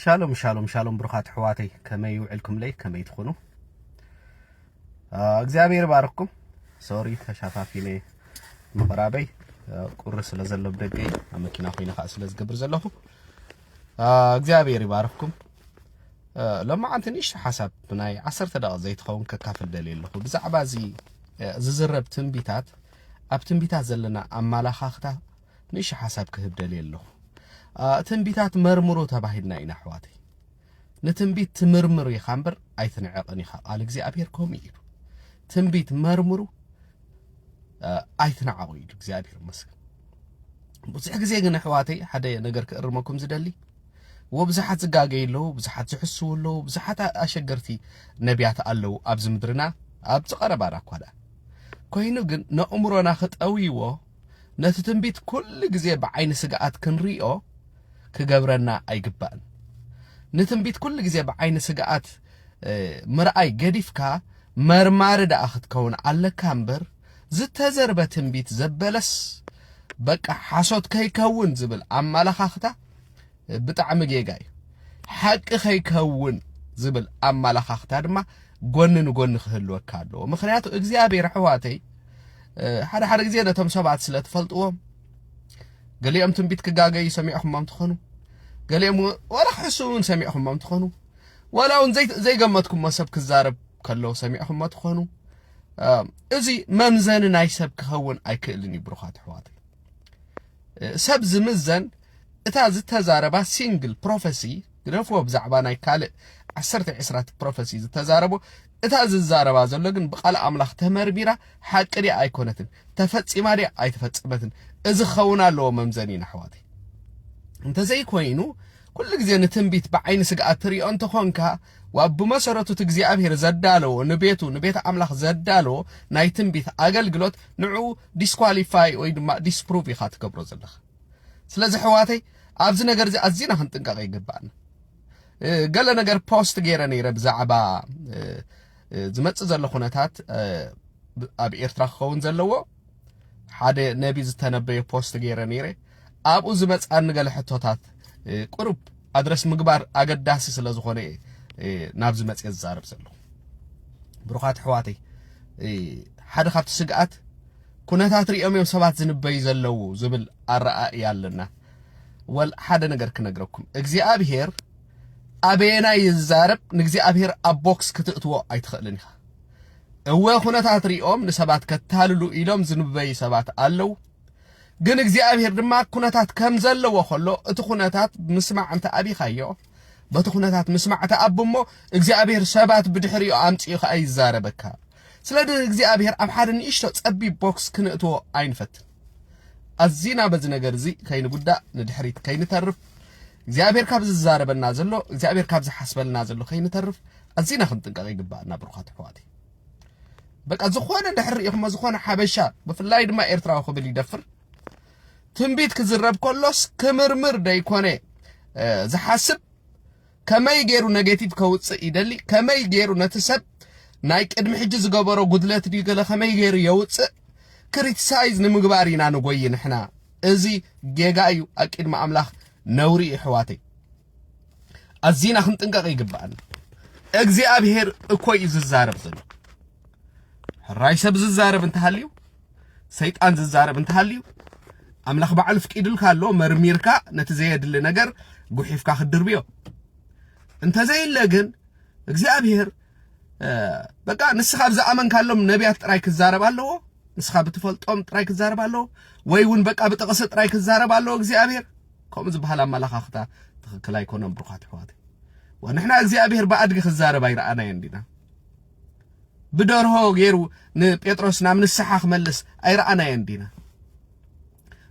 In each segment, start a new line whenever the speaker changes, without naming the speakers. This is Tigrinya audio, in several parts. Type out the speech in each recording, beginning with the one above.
ሻሎም ሻሎም ሻሎም ብሩኻት ኣሕዋተይ ከመይ ውዕልኩምለይ ከመይ ትኾኑ እግዚኣብሔር ባርኩም ሶሪ ተሻፋፊነ ምቕራበይ ቁሪ ስለ ዘሎ ብደገ እዩ ኣብ መኪና ኮይነ ከዓ ስለ ዝገብር ዘለኹ እግዚኣብሔር ይባርኩም ሎማዓንቲ ንእሽቶ ሓሳብ ናይ ዓሰርተ ደቂ ዘይትኸውን ከካፍል ደልየ ኣለኹ ብዛዕባ እዚ ዝዝረብ ትንቢታት ኣብ ትንቢታት ዘለና ኣመላኻኽታ ንእሽቶ ሓሳብ ክህብ ደልየ ኣለኹ። ትንቢታት መርምሩ ተባሂልና ኢና ኣሕዋተይ። ንትንቢት ትምርምር ኢኻ እምበር ኣይትንዕቕን ኢኻ። ቃል እግዚኣብሔር ከምኡ ኢሉ ትንቢት መርምሩ ኣይትንዓቑ ኢሉ እግዚኣብሔር ይመስገን። ብዙሕ ግዜ ግን ኣሕዋተይ ሓደ ነገር ክእርመኩም ዝደሊ ወብዙሓት ዝጋገዩ ኣለዉ፣ ብዙሓት ዝሕስዉ ኣለዉ፣ ብዙሓት ኣሸገርቲ ነቢያት ኣለዉ ኣብዚ ምድርና ኣብዚ ቀረባና እኳ ደኣ ኮይኑ ግን ነእምሮና ክጠውይዎ ነቲ ትንቢት ኩሉ ግዜ ብዓይኒ ስግኣት ክንሪኦ ክገብረና ኣይግባእን። ንትንቢት ኩሉ ግዜ ብዓይኒ ስግኣት ምርኣይ ገዲፍካ መርማሪ ደኣ ክትከውን ኣለካ እምበር ዝተዘርበ ትንቢት ዘበለስ በቃ ሓሶት ከይከውን ዝብል ኣመላኻኽታ ብጣዕሚ ጌጋ እዩ። ሓቂ ከይከውን ዝብል ኣመላኻኽታ ድማ ጎኒ ንጎኒ ክህልወካ ኣለዎ። ምክንያቱ እግዚኣብሔር ኣሕዋተይ ሓደ ሓደ ግዜ ነቶም ሰባት ስለ ትፈልጥዎም ገሊኦም ትንቢት ክጋገዩ ሰሚዕኹሞም ትኾኑ፣ ገሊኦም ወላ ክሕሱ እውን ሰሚዕኹሞም ትኾኑ፣ ወላ እውን ዘይገመትኩሞ ሰብ ክዛረብ ከሎ ሰሚዕኹሞ ትኾኑ። እዚ መምዘኒ ናይ ሰብ ክኸውን ኣይክእልን እዩ። ብሩኻት ኣሕዋት ሰብ ዝምዘን እታ ዝተዛረባ ሲንግል ፕሮፈሲ ግደፍዎ ብዛዕባ ናይ ካልእ ዓሰርተ ዕስራት ፕሮፈሲ ዝተዛረቦ እታ ዝዛረባ ዘሎ ግን ብቃል ኣምላኽ ተመርሚራ ሓቂ ድያ ኣይኮነትን ተፈጺማ ድያ ኣይተፈጸመትን እዚ ክኸውን ኣለዎ መምዘኒና ኣሕዋተይ እንተዘይኮይኑ ኩሉ ግዜ ንትንቢት ብዓይኒ ስግኣት ትሪኦ እንተኾንካ ዋብ ብመሰረቱ እቲ እግዚኣብሔር ዘዳለዎ ንቤቱ ንቤት ኣምላኽ ዘዳለዎ ናይ ትንቢት ኣገልግሎት ንዑ ዲስኳሊፋይ ወይ ድማ ዲስፕሩቭ ኢኻ ትገብሮ ዘለኻ ስለዚ ሕዋተይ ኣብዚ ነገር እዚ ኣዝና ክንጥንቀቕ ይግባእና ገለ ነገር ፖስት ገይረ ነይረ ብዛዕባ ዝመፅእ ዘሎ ኩነታት ኣብ ኤርትራ ክኸውን ዘለዎ ሓደ ነቢ ዝተነበየ ፖስት ገይረ ነይረ ኣብኡ ዝመፅኣኒ ገለ ሕቶታት ቁሩብ ኣድረስ ምግባር ኣገዳሲ ስለ ዝኾነ ናብዚ መፅየ ዝዛረብ ዘለኹ ብሩኻት ኣሕዋተይ ሓደ ካብቲ ስግኣት ኩነታት ሪኦም እዮም ሰባት ዝንበዩ ዘለዉ ዝብል ኣረኣእያ ኣለና። ወል ሓደ ነገር ክነግረኩም እግዚኣብሄር ኣበየናይ ይዛረብ ንእግዚኣብሄር ኣብ ቦክስ ክትእትዎ ኣይትኽእልን ኢኻ። እወ ኩነታት ሪኦም ንሰባት ከታልሉ ኢሎም ዝንበዩ ሰባት ኣለዉ። ግን እግዚኣብሄር ድማ ኩነታት ከም ዘለዎ ከሎ እቲ ኩነታት ምስማዕ እንተ ኣቢኻዮ በቲ ኩነታት ምስማዕ ተኣብ እሞ እግዚኣብሄር ሰባት ብድሕሪኡ ኣምፂኡ ከዓ ይዛረበካ ስለዚ እግዚኣብሔር ኣብ ሓደ ንእሽቶ ጸቢብ ቦክስ ክንእትዎ ኣይንፈትን። ኣዚና በዚ ነገር እዚ ከይንጉዳእ ንድሕሪት ከይንተርፍ እግዚኣብሔር ካብ ዝዛረበና ዘሎ እግዚኣብሔር ካብ ዝሓስበልና ዘሎ ከይንተርፍ ኣዚና ክንጥንቀቕ ይግባእና ብሩኻት ኣሕዋት በቃ ዝኾነ ድሕሪ ሪኢኹሞ ዝኾነ ሓበሻ ብፍላይ ድማ ኤርትራዊ ክብል ይደፍር ትንቢት ክዝረብ ከሎስ ክምርምር ደይኮነ ዝሓስብ ከመይ ጌሩ ነጌቲቭ ከውጽእ ይደሊ ከመይ ጌሩ ነቲ ሰብ ናይ ቅድሚ ሕጂ ዝገበሮ ጉድለት ድዩ ገለ ከመይ ጌሩ የውጽእ ክሪቲሳይዝ ንምግባር ኢና ንጎይ ንሕና እዚ ጌጋ እዩ ኣቂድሚ ኣምላኽ ነውሪ እዩ ሕዋተይ ኣዚና ክንጥንቀቕ ይግባኣና እግዚኣብሄር እኮ እዩ ዝዛረብ ዘሎ ሕራይ ሰብ ዝዛረብ እንተሃልዩ ሰይጣን ዝዛረብ እንተሃልዩ ኣምላኽ ባዕሉ ፍቂድልካ ኣሎ መርሚርካ ነቲ ዘየድሊ ነገር ጉሒፍካ ክትድርብዮ እንተዘይለ ግን እግዚኣብሔር በቃ ንስኻ ኣብ ዝኣመንካሎም ነቢያት ጥራይ ክዛረብ ኣለዎ ንስኻ ብትፈልጦም ጥራይ ክዛረብ ኣለዎ ወይ እውን በቃ ብጥቕሲ ጥራይ ክዛረብ ኣለዎ እግዚኣብሔር ከምኡ ዝበሃል ኣመላኻኽታ ትኽክል ኣይኮነን ብሩኻት ኣሕዋት ወንሕና እግዚኣብሔር ብኣድጊ ክዛረብ ኣይረኣናዮ እንዲና ብደርሆ ገይሩ ንጴጥሮስ ናብ ንስሓ ክመልስ ኣይረኣናዮን ዲና?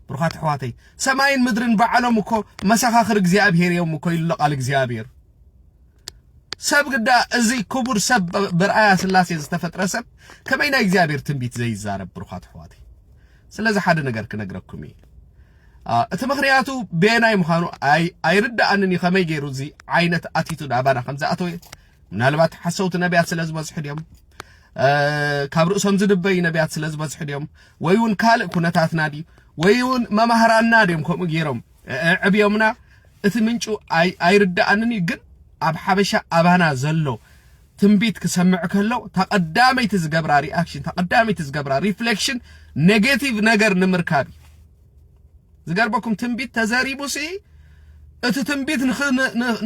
ብሩኻት ኣሕዋተይ ሰማይን ምድርን ባዕሎም እኮ መሰኻኽር እግዚኣብሔር እዮም እኮ ኢሉ ቃል እግዚኣብሔር ሰብ ግዳ እዚ ክቡር ሰብ ብርኣያ ስላሴ ዝተፈጥረ ሰብ ከመይ ናይ እግዚኣብሔር ትንቢት ዘይዛረብ ብሩኻት ኣሕዋተይ ስለዚ ሓደ ነገር ክነግረኩም እዩ እቲ ምክንያቱ ቤናይ ምዃኑ ኣይርዳእንን እዩ ከመይ ገይሩ እዚ ዓይነት ኣቲቱድ ኣባና ከም ዝኣተወ ምናልባት ሓሰውቲ ነቢያት ስለ ዝበዝሑ ድዮም ካብ ርእሶም ዝድበዩ ነቢያት ስለ ዝበዝሑ ድዮም ወይ እውን ካልእ ኩነታትና ድዩ ወይ እውን መማህራንና ድዮም ከምኡ ገይሮም ዕብዮምና እቲ ምንጩ ኣይርዳኣንን እዩ ግን ኣብ ሓበሻ ኣባና ዘሎ ትንቢት ክሰምዕ ከሎ ተቐዳመይቲ ዝገብራ ሪኣክሽን ተቐዳመይቲ ዝገብራ ሪፍሌክሽን ኔጌቲቭ ነገር ንምርካብ እዩ ዝገርመኩም ትንቢት ተዘሪቡ ሲ እቲ ትንቢት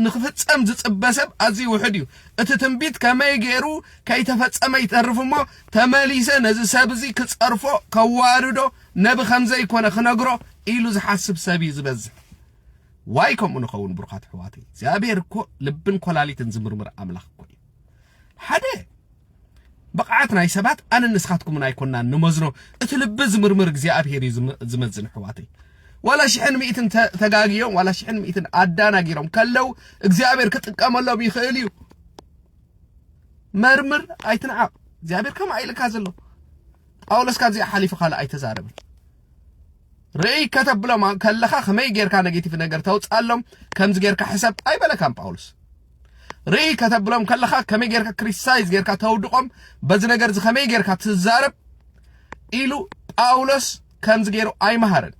ንክፍጸም ዝጽበ ሰብ ኣዝዩ ውሕድ እዩ እቲ ትንቢት ከመይ ገይሩ ከይተፈጸመ ይተርፍ እሞ ተመሊሰ ነዚ ሰብ እዚ ክጸርፎ ከዋርዶ ነቢ ከም ዘይኮነ ክነግሮ ኢሉ ዝሓስብ ሰብ እዩ ዝበዝሕ ዋይ ከምኡ ንኸውን ብሩኻት ኣሕዋተይ እግዚኣብሔር እኮ ልብን ኮላሊትን ዝምርምር ኣምላኽ እኮ እዩ ሓደ ብቕዓት ናይ ሰባት ኣነ ንስኻትኩምን ኣይኮናን ንመዝኖ እቲ ልቢ ዝምርምር እግዚኣብሄር እዩ ዝመዝን ኣሕዋተይ ዋላ ሽሕን ሚእትን ተጋግዮም ዋላ ሽሕን ሚእትን ኣዳናጊሮም ከለው እግዚኣብሄር ክጥቀመሎም ይኽእል እዩ መርምር ኣይትንዓቕ እግዚኣብሄር ከምኣ ኢልካ ዘሎ ጳውሎስ ካብዚኣ ሓሊፉ ካልእ ኣይተዛረብን ርእይ ከተብሎም ከለኻ ከመይ ጌርካ ነጌቲቭ ነገር ተውጽኣሎም ከምዚ ጌርካ ሕሰብ ኣይበለካን ጳውሎስ ርእይ ከተብሎም ከለኻ ከመይ ጌርካ ክሪቲሳይዝ ጌርካ ተውድቖም በዚ ነገር እዚ ከመይ ጌርካ ትዛረብ ኢሉ ጳውሎስ ከምዚ ገይሩ ኣይመሃርን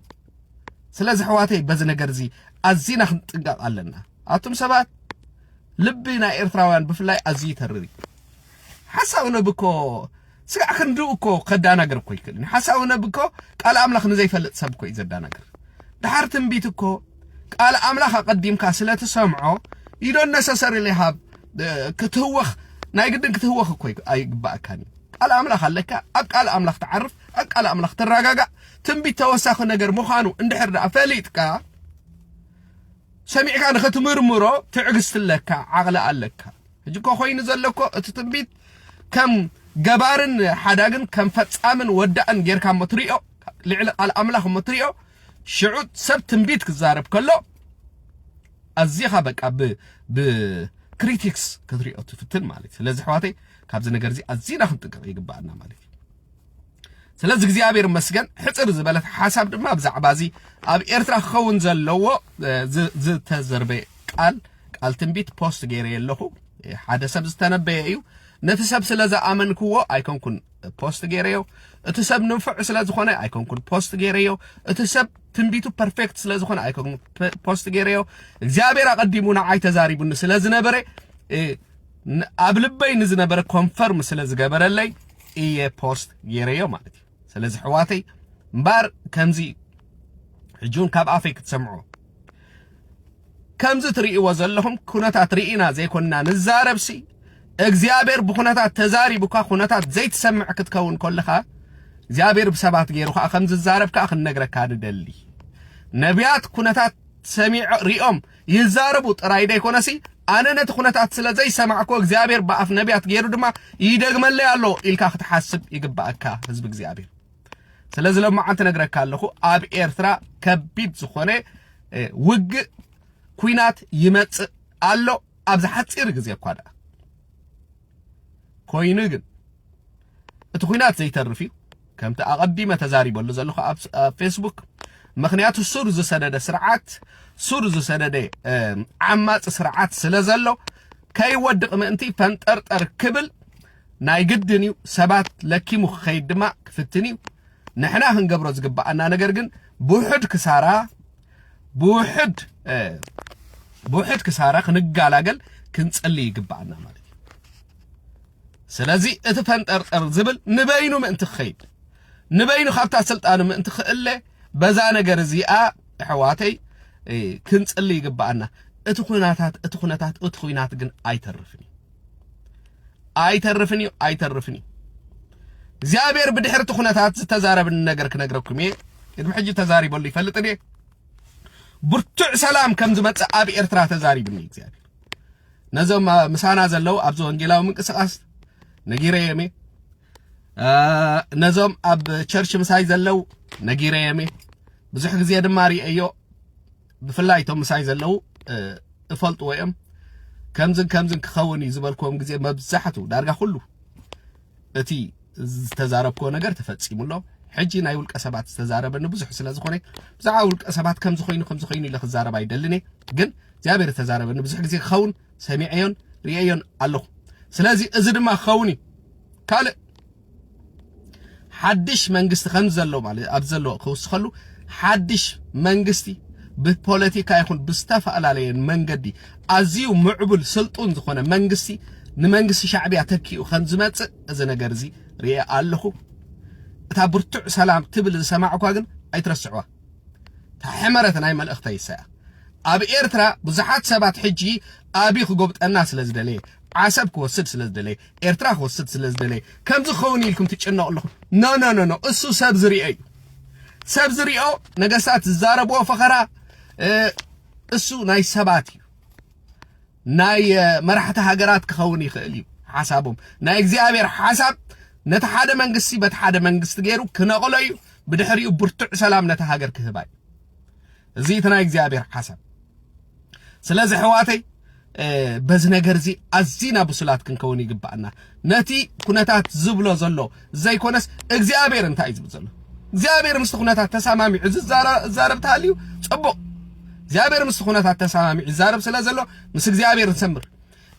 ስለዚ ሕዋተይ በዚ ነገር እዚ ኣዚና ክንጥንቀቕ ኣለና ኣቱም ሰባት ልቢ ናይ ኤርትራውያን ብፍላይ ኣዝዩ ይተርር ሓሳብ ንብኮ ስጋዕ ክንድኡ እኮ ከዳናግር እኮ ኣይክእልን እዩ ሓሳዊ ነቢ እኮ ቃል ኣምላኽ ንዘይፈልጥ ሰብ እኮ እዩ ዘዳናግር ድሓር ትንቢት እኮ ቃል ኣምላኽ ኣቐዲምካ ስለ ትሰምዖ you don't necessarily have ክትህወኽ ናይ ግድን ክትህወኽ እኮ ኣይግባእካን እዩ ቃል ኣምላኽ ኣለካ ኣብ ቃል ኣምላኽ ትዓርፍ ኣብ ቃል ኣምላኽ ትረጋጋእ ትንቢት ተወሳኺ ነገር ምዃኑ እንድሕር ደኣ ፈሊጥካ ሰሚዕካ ንኽትምርምሮ ትዕግስቲ ኣለካ ዓቕሊ ኣለካ ሕጂ እኮ ኮይኑ ዘሎ እኮ እቲ ትንቢት ከም ገባርን ሓዳግን ከም ፈጻምን ወዳእን ጌርካ እሞ ትሪኦ ልዕሊ ቃል ኣምላኽ እሞ ትሪኦ ሽዑ ሰብ ትንቢት ክዛረብ ከሎ ኣዚኻ በቃ ብክሪቲክስ ክትሪኦ ትፍትን ማለት እዩ ስለዚ ኣሕዋተይ ካብዚ ነገር እዚ ኣዚና ክንጥንቀቕ ይግባኣና ማለት እዩ ስለዚ እግዚኣብሔር መስገን ሕፅር ዝበለት ሓሳብ ድማ ብዛዕባ እዚ ኣብ ኤርትራ ክኸውን ዘለዎ ዝተዘርበ ቃል ቃል ትንቢት ፖስት ገይረ ኣለኹ ሓደ ሰብ ዝተነበየ እዩ ነቲ ሰብ ስለ ዝኣመንክዎ ኣይኮንኩን ፖስት ገይረዮ እቲ ሰብ ንንፍዕ ስለ ዝኾነ ኣይኮንኩን ፖስት ገይረዮ እቲ ሰብ ትንቢቱ ፐርፌክት ስለ ዝኾነ ኣይኮንኩን ፖስት ገይረዮ እግዚኣብሔር ኣቐዲሙ ንዓይ ተዛሪቡኒ ስለ ዝነበረ ኣብ ልበይ ንዝነበረ ኮንፈርም ስለ ዝገበረለይ እየ ፖስት ጌረዮ ማለት እዩ ስለዚ ኣሕዋተይ እምበኣር ከምዚ እዩ ሕጂ እውን ካብ ኣፈይ ክትሰምዑ ከምዚ ትርእይዎ ዘለኹም ኩነታት ርኢና ዘይኮንና ንዛረብሲ እግዚኣብሔር ብኩነታት ተዛሪቡካ ኩነታት ዘይትሰምዕ ክትከውን ኮለኻ እግዚኣብሔር ብሰባት ገይሩ ከዓ ከም ዝዛረብ ከዓ ክንነግረካ ንደሊ ነቢያት ኩነታት ሰሚዖ ሪኦም ይዛረቡ ጥራይ ደይኮነሲ ኣነ ነቲ ኩነታት ስለ ዘይሰማዕኩ እግዚኣብሔር ብኣፍ ነቢያት ገይሩ ድማ ይደግመለይ ኣሎ ኢልካ ክትሓስብ ይግባኣካ ህዝቢ እግዚኣብሔር ስለዚ ሎማዓንቲ ነግረካ ኣለኹ ኣብ ኤርትራ ከቢድ ዝኾነ ውግእ ኩናት ይመጽእ ኣሎ ኣብዚ ሓፂር ግዜ እኳ ደኣ ኮይኑ ግን እቲ ኩናት ዘይተርፍ እዩ ከምቲ ኣቐዲመ ተዛሪበሉ ዘለኹ ኣብ ፌስቡክ ምክንያቱ ሱር ዝሰደደ ስርዓት ሱር ዝሰደደ ዓማፂ ስርዓት ስለ ዘሎ ከይወድቕ ምእንቲ ፈንጠርጠር ክብል ናይ ግድን እዩ ሰባት ለኪሙ ክኸይድ ድማ ክፍትን እዩ ንሕና ክንገብሮ ዝግባኣና ነገር ግን ብውሑድ ክሳራ ብውሕድ ብውሕድ ክሳራ ክንጋላገል ክንጸሊ ይግባኣና ማለት እዩ ስለዚ እቲ ፈንጠርጠር ዝብል ንበይኑ ምእንቲ ክኸይድ ንበይኑ ካብታ ስልጣኑ ምእንቲ ክእለ በዛ ነገር እዚኣ ኣሕዋተይ ክንጽሊ ይግባኣና እቲ ኩነታት እቲ ኩነታት እቲ ኩናት ግን ኣይተርፍን እዩ ኣይተርፍን እዩ ኣይተርፍን እዩ እግዚኣብሔር ብድሕርቲ ኩነታት ዝተዛረብኒ ነገር ክነግረኩም እየ ቅድሚ ሕጂ ተዛሪበሉ ይፈልጥ እየ ብርቱዕ ሰላም ከም ዝመጽእ ኣብ ኤርትራ ተዛሪብኒ እግዚኣብሔር ነዞም ምሳና ዘለው ኣብዚ ወንጌላዊ ምንቅስቃስ ነጊረዮም እየ ነዞም ኣብ ቸርች ምሳይ ዘለው ነጊረዮም እየ ብዙሕ ግዜ ድማ ርእየዮ ብፍላይ እቶም ምሳይ ዘለዉ እፈልጥዎ እዮም ከምዝን ከምዝን ክኸውን እዩ ዝበልክዎም ግዜ መብዛሕቱ ዳርጋ ኩሉ እቲ ዝተዛረብክዎ ነገር ተፈጺሙ ኣሎ ሕጂ ናይ ውልቀ ሰባት ዝተዛረበኒ ብዙሕ ስለ ዝኾነ ብዛዕባ ውልቀ ሰባት ከምዚ ኮይኑ ከምዚ ኮይኑ ኢለ ክዛረብ ኣይደልን እየ ግን እግዚኣብሔር ዝተዛረበኒ ብዙሕ ግዜ ክኸውን ሰሚዐዮን ርእየዮን ኣለኹ ስለዚ እዚ ድማ ክኸውን እዩ ካልእ ሓድሽ መንግስቲ ከምዘሎ ማለት ኣብ ዘሎ ክውስኸሉ ሓድሽ መንግስቲ ብፖለቲካ ይኹን ብዝተፈላለየ መንገዲ ኣዝዩ ምዕቡል ስልጡን ዝኾነ መንግስቲ ንመንግስቲ ሻዕብያ ተኪኡ ከም ዝመጽእ እዚ ነገር እዚ ርኤ ኣለኹ እታ ብርቱዕ ሰላም ትብል ዝሰማዕኳ ግን ኣይትረስዕዋ እታ ሕመረት ናይ መልእኽተ ይሰያ ኣብ ኤርትራ ብዙሓት ሰባት ሕጂ ኣቢ ክጎብጠና ስለ ዝደለየ ዓሰብ ክወስድ ስለ ዝደለየ ኤርትራ ክወስድ ስለ ዝደለየ ከምዚ ክኸውን ኢልኩም ትጭነቑ ኣለኹም ኖ ኖ ኖ ኖ እሱ ሰብ ዝሪኦ እዩ ሰብ ዝሪኦ ነገስታት ዝዛረብዎ ፈኸራ እሱ ናይ ሰባት እዩ ናይ መራሕቲ ሃገራት ክኸውን ይኽእል እዩ ሓሳቦም ናይ እግዚኣብሔር ሓሳብ ነቲ ሓደ መንግስቲ በቲ ሓደ መንግስቲ ገይሩ ክነቕሎ እዩ ብድሕሪኡ ብርቱዕ ሰላም ነቲ ሃገር ክህባ እዩ እዚ እቲ ናይ እግዚኣብሔር ሓሳብ ስለዚ ሕዋተይ በዚ ነገር እዚ ኣዚና ብሱላት ክንከውን ይግባእና ነቲ ኩነታት ዝብሎ ዘሎ ዘይኮነስ እግዚኣብሔር እንታይ እዩ ዝብል ዘሎ እግዚኣብሔር ምስቲ ኩነታት ተሰማሚዑ ዝዛረብ ተሃልዩ ፅቡቕ እግዚኣብሔር ምስቲ ኩነታት ተሰማሚዑ ይዛረብ ስለ ዘሎ ምስ እግዚኣብሔር ንሰምር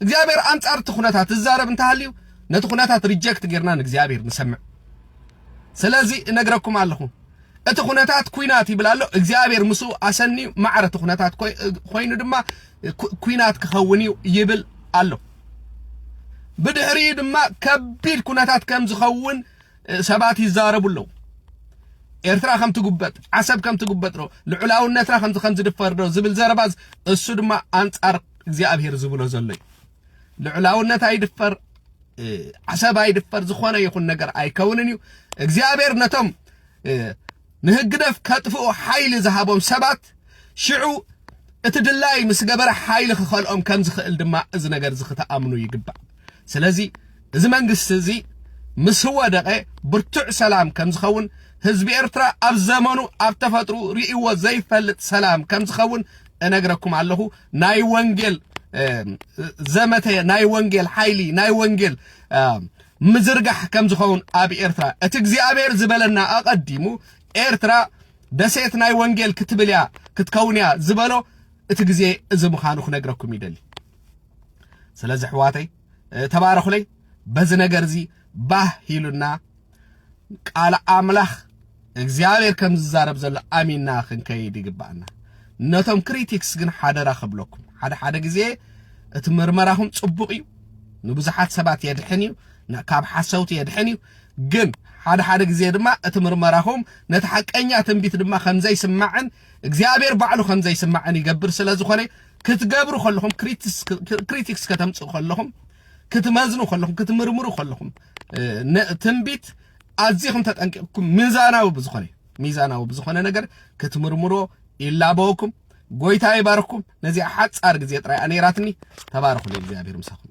እግዚኣብሔር ኣንጻር እቲ ኩነታት ዝዛረብ እንተሃልዩ ነቲ ኩነታት ሪጀክት ጌርና ንእግዚኣብሔር ንሰምዕ ስለዚ እነግረኩም ኣለኹ እቲ ኩነታት ኩናት ይብል ኣሎ እግዚኣብሔር ምስኡ ኣሰንዩ ማዕረ እቲ ኩነታት ኮይኑ ድማ ኩናት ክኸውን እዩ ይብል ኣሎ ብድሕሪ ድማ ከቢድ ኩነታት ከም ዝኸውን ሰባት ይዛረቡ ኣለዉ ኤርትራ ከም ትጉበጥ ዓሰብ ከም ትጉበጥ ዶ ልዑላውነትና ከምዚ ከም ዝድፈር ዶ ዝብል ዘረባ እሱ ድማ ኣንጻር እግዚኣብሔር ዝብሎ ዘሎ እዩ። ልዑላውነት ኣይድፈር፣ ዓሰብ ኣይድፈር፣ ዝኾነ ይኹን ነገር ኣይከውንን እዩ። እግዚኣብሔር ነቶም ንህግደፍ ከጥፍኡ ሓይሊ ዝሃቦም ሰባት ሽዑ እቲ ድላይ ምስ ገበረ ሓይሊ ክኸልኦም ከም ዝኽእል ድማ እዚ ነገር እዚ ክትኣምኑ ይግባእ። ስለዚ እዚ መንግስቲ እዚ ምስ ወደቐ ብርቱዕ ሰላም ከም ዝኸውን ህዝቢ ኤርትራ ኣብ ዘመኑ ኣብ ተፈጥሩ ርእይዎ ዘይፈልጥ ሰላም ከም ዝኸውን እነግረኩም ኣለኹ። ናይ ወንጌል ዘመተ ናይ ወንጌል ሓይሊ ናይ ወንጌል ምዝርጋሕ ከም ዝኸውን ኣብ ኤርትራ እቲ እግዚኣብሔር ዝበለና ኣቐዲሙ ኤርትራ ደሴት ናይ ወንጌል ክትብል እያ ክትከውን እያ ዝበሎ እቲ ግዜ እዚ ምዃኑ ክነግረኩም ይደሊ ስለዚ ኣሕዋተይ ተባረኹለይ በዚ ነገር እዚ ባህ ኢሉና ቃል ኣምላኽ እግዚኣብሔር ከም ዝዛረብ ዘሎ ኣሚና ክንከይድ ይግባእና። ነቶም ክሪቲክስ ግን ሓደራ ክብለኩም ሓደ ሓደ ግዜ እቲ ምርመራኹም ጽቡቕ እዩ፣ ንብዙሓት ሰባት የድሕን እዩ፣ ካብ ሓሰውቲ የድሕን እዩ። ግን ሓደ ሓደ ግዜ ድማ እቲ ምርመራኹም ነቲ ሓቀኛ ትንቢት ድማ ከም ዘይስማዕን እግዚኣብሔር ባዕሉ ከም ዘይስማዕን ይገብር ስለ ዝኾነ ክትገብሩ ከለኹም ክሪቲክስ ከተምጽኡ ከለኹም ክትመዝኑ ከለኹም ክትምርምሩ ከለኹም ትንቢት ኣዚኹም ተጠንቂቕኩም ሚዛናዊ ብዝኾነ ሚዛናዊ ብዝኾነ ነገር ክትምርምሮ ይላበወኩም። ጎይታ ይባርኩም። ነዚኣ ሓጻር ግዜ ጥራይ ኣኔራትኒ ተባረኹ። እግዚኣብሔር ምሳኹም